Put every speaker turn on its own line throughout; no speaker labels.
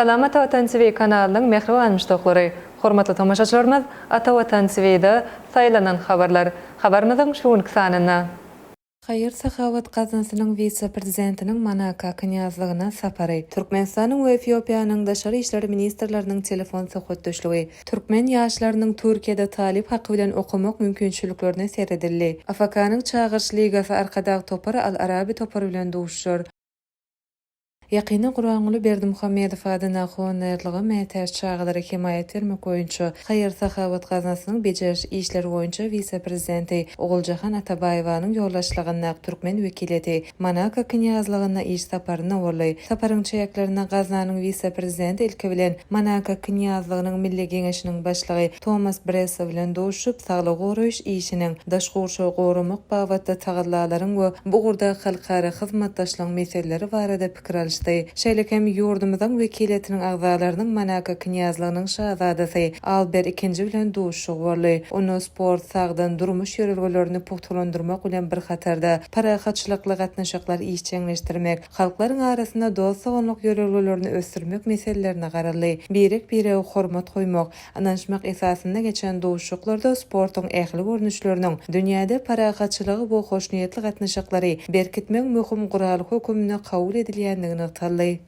Salamat Watan TV kanalynyň mähriban muşdaklary, hormatly tomaşaçylarymyz, Atavatan TV-da Saýlanan habarlar habarymyzyň şu günki sanynda, Haýyr-sahawat gaznasynyň wise-prezidentiniň Monako knýazlygyna sapary, Türkmenistanyň we Efiopiýanyň daşary işler ministrleriniň telefon söhbetdeşligi, türkmen ýaşlarynyň Türkiýede talyp haky bilen okamak mümkinçiliklerine seredildi, AFK-nyň Çagyryş ligasy Arkadag topary Al-Arabi topary bilen duşuşar. Ýakynda Guranguly Berdimuhamedow adyna honerlige mätäç çagalara hemaýat bermek boýunça haýyr-sahawat gaznasynyň bejeriş işleri boýunça wise-prezidenti Oguljahan Atabaýewanyň ýolbaşçylygyndaky türkmen wekiliýeti Monako Knýazlygynda iş saparynda boldy. Saparyň çäklerinde gaznanyň wise-prezidenti ilki bilen Monako Knýazlygynyň Milli Geňeşiniň Başlygy Tomas Bresso bilen duşup, saglygy goraýyş işiniň, daş gurşawy goramak babatda tagallalaryň we bu ugurdaky halkara hyzmatdaşlygyň meseleleri barada pikir alyşdy. Şeýle hem ýurdumyzyň wekiliýetiniň agzalarynyň Monako Knýazlygynyň Şazadasy Alber II bilen duşuşygy boldy. Onda sport, sagdyn durmuş ýörelgelerini pugtalandyrmak bilen bir hatarda, parahatçylykly gatnaşyklary işjeňleşdirmek, halklaryň arasynda dost-doganlyk ýörelgelerini ösdürmek meselelerine garaldy. Birek-birege hormat goýmak, Ynanyşmak esasynda geçen duşuşyklarda sportuň ähli görnüşleriniň dünýäde parahatçylygy we hoşniýetli gatnaşyklary berkitmegiň möhüm guraly höküminde kabul edilýändigi nygtaldy.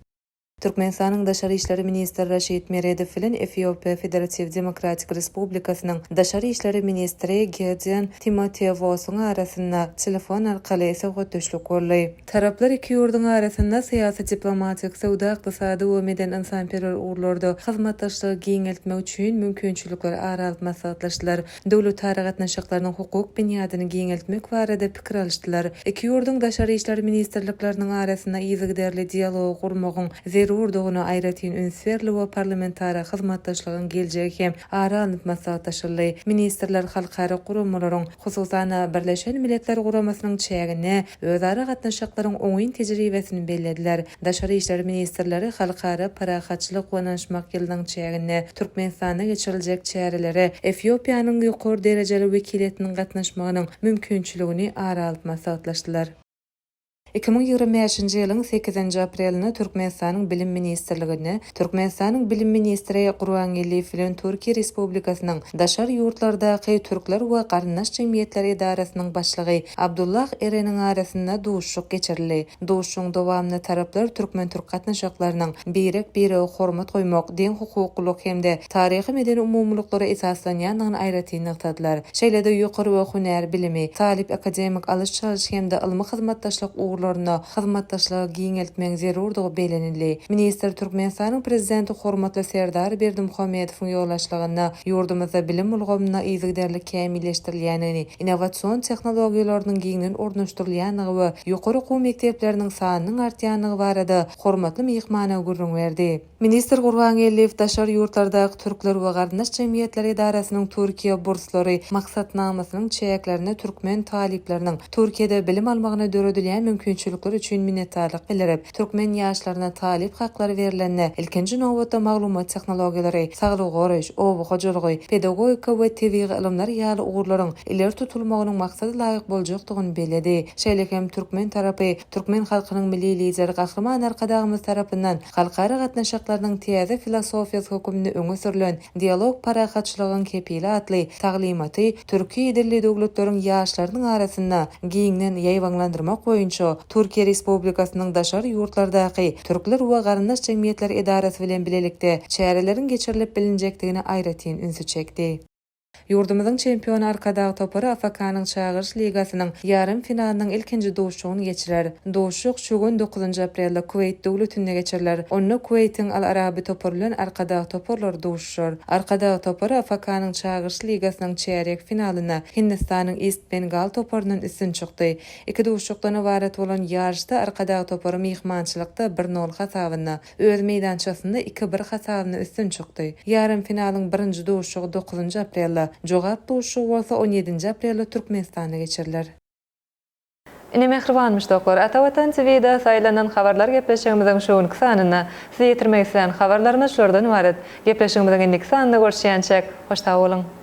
Türkmenistanyň Daşary işler ministri Raşid Meredow bilen Efiopiýa Federatiw Demokratik Respublikasynyň Daşary işler ministri Gedeon Timotewosyň arasynda telefon arkaly söhbetdeşlik boldy. Taraplar iki ýurduň arasynda syýasy-diplomatik, söwda-ykdysady we medeni-ynsanperwer ugurlarda hyzmatdaşlygy giňeltmek üçin mümkinçilikleri ara alyp maslahatlaşdylar. Döwletara gatnaşyklarynyň hukuk binýadyny giňeltmek barada pikir alyşdylar. Iki ýurduň daşary işler ministrlikleriniň arasynda yzygiderli dialogy gurmagyň zerurdygyna aýratyn üns berildi we parlamentara hyzmatdaşlygyň geljegi hem ara alnyp maslahatlaşyldy. Ministrler halkara guramalaryň, Hususan-da, Birleşen Milletler Guramasynyň çäginde özara gatnaşyklaryň oňyn tejribesini bellediler. Daşary işler ministrleri Halkara parahatçylyk we ynanyşmak ýylynyň çäginde Türkmenistanda geçiriljek çärelere Efiopiýanyň ýokary derejeli wekiliýetiniň gatnaşmagynyň mümkinçiligini ara alyp maslahatlaşdylar. Iki müň ýigrimi bäşinji ýylyň sekizinji aprelinde Türkmenistanyň Bilim ministrliginde Türkmenistanyň Bilim ministri Gurban Geldiýew bilen Türkiýe Respublikasynyň Daşary ýurtlardaky türkler we garyndaş jemgyýetleri edarasynyň başlygy Abdullah Ereniň arasynda duşuşyk geçirildi. Duşuşygyň dowamynda taraplar türkmen-türk gatnaşyklarynyň birek-birege hormat goýmak, deňhukuklylyk hem-de taryhy-medeni umumylyklara esaslanýandygyny aýratyn nygtadylar. Şeýle-de ýokary we hünär bilimi, talyp-akademik alyş-çalyş hem-de ylmy hyzmatdaşlyk ugurlarynda hyzmatdaşlygy giňeltmegiň zerurdygy bellenildi. Ministr Türkmenistanyň Prezidenti hormatly Serdar Berdimuhamedowyň ýolbaşçylygynda ýurdumyzda bilim ulgamyna yzygiderli kämilleşdirilýändigini, innowasion tehnologiýalarynyň giňden ornaşdyrylýandygy we ýokary okuw mekdepleriniň sanynyň artýandygy barada hormatly myhmana gürrüň berdi. Ministr Gurbangeldiýew daşary ýurtlardaky türkler we garyndaş jemgyýetler edarasynyň Türkiýe burslary maksatnamasynyň çäklerinde türkmen talyplarynyň Türkiýede bilim almagyna döredilýän mümkinçilikler üçin minnetdarlyk bildirip, türkmen ýaşlaryna talyp haklary berlende, ilkinji nobatda maglumat tehnologiýalary, saglygy goraýyş, oba hojalygy, pedagogika we tebigy ylymlar ýaly ugurlaryň ileri tutulmagynyň maksada laýyk boljakdygyny belledi. Şeýle hem türkmen tarapy, Türkmen halkynyň Milli Lideri Gahryman Arkadagymyz tarapyndan halkara gatnaşyklarynyň täze filosofiýasy hökmünde öňe sürlen Dialog parahatçylygyň kepili atly taglymaty türki dilli döwletleriň ýaşlarynyň arasynda giňden ýaýbaňlandyrmak boýunça Türkiýe Respublikasynyň daşary ýurtlardaky türkler we garyndaş jemgyýetler edarasy bilen bilelikde çäreleriň geçirilip bilinjekdigine aýratyn ünsi çekdi. Ýurdumyzyň çempiony Arkadag topary AFK-nyň Çagyryş ligasynyň ýarym finalynyň ilkinji duşuşygyny geçirer. Duşuşyk şu gün, dokuzynjy aprelde Kuweýt döwletinde geçiriler. Onda Kuweýtiň Al Arabi topary bilen Arkadag toparlary duşuşar. Arkadag topary AFK-nyň Çagyryş ligasynyň çärýek finalynda Hindistanyň East Bengal toparyndan üstün çykdy. Iki duşuşykdan ybarat bolan ýaryşda Arkadag topary myhmançylykda bir nol hasabynda öz meýdançasynda iki-bir hasabynda üstün çykdy. Ýarym finalyň birinji duşuşygy dokuzynjy aprelde, jogap duşuşygy bolsa on ýedinji aprelde Türkmenistanda geçiriler. Ine mähriban muşdaklar, Ata Watan TVda saýlanan habarlar gepleşigimiziň şu günki sanynda. Size ýetirmek islän habarlarymyz şulardan ybarat. Gepleşigimiziň indiki sanynda görüşýänçäk, hoş sag boluň!